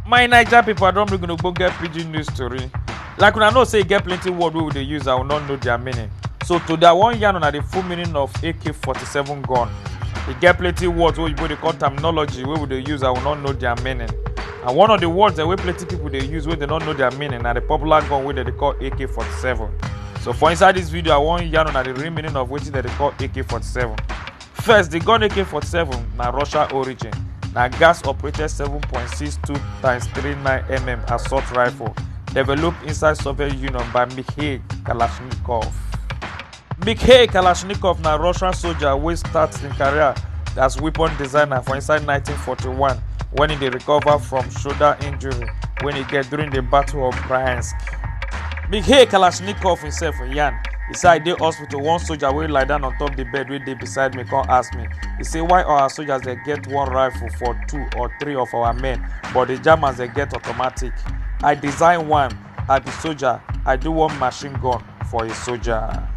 my naija pipo i don bring una ogbonge pidgin news tori like una know say e get plenty word wey we dey use and we no know their meaning so today i wan yarn una the full meaning of ak-47 gun e get plenty words wey oyibo dey call terminology wey we dey use and we no know their meaning and one of the words dem wey plenty people dey use wey dem no know their meaning na the popular gun wey dem dey call ak-47 so for inside this video i wan yarn una the real meaning of wetin dem dey call ak-47 First, the gun AK-47 na Russia origin. Na gas-operated 7.62 times 39 mm assault rifle developed inside Soviet Union by Mikhail Kalashnikov. Mikhail Kalashnikov na Russian soldier wey start im career as weapon designer for inside 1941 when he dey recover from shoulder injury wey he get during the Battle of Bryansk. Mikhail Kalashnikov himself yarn e say I dey hospital to one soldier wey lie down on top the bed wey dey beside me come ask me he say why our soldiers dey get one rifle for two or three of our men but the germans dey get automatic i design one i be soldier i do one machine gun for a soldier.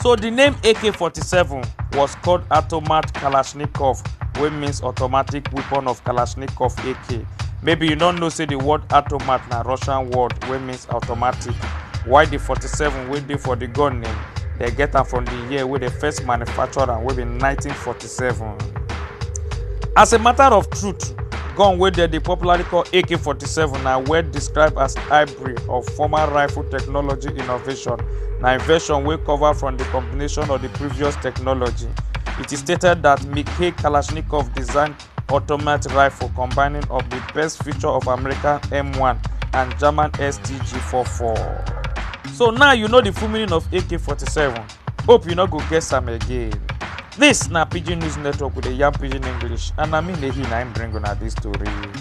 So the name AK-47 was called Automat Kalashnikov, wey means automatic weapon of Kalashnikov AK. Maybe you no know say the word automat na Russian word wey means automatic while di 47 wey dey for di gun name dem get am from di year wey dem first manufacture am wey be 1947 as a matter of truth gun wey dem dey popularly call ak-47 na well described as hybrid of former rifle technology innovation na invention wey cover from di combination of di previous technology it is stated that mikhail kalashnikov designed automatic rifle combining of di best feature of american m1 and german stg44 so now you know di full meaning of ak-47 hope you no go guess am again dis na pidgin news network with di yam pidgin english and na me nehi na im bring una dis tori.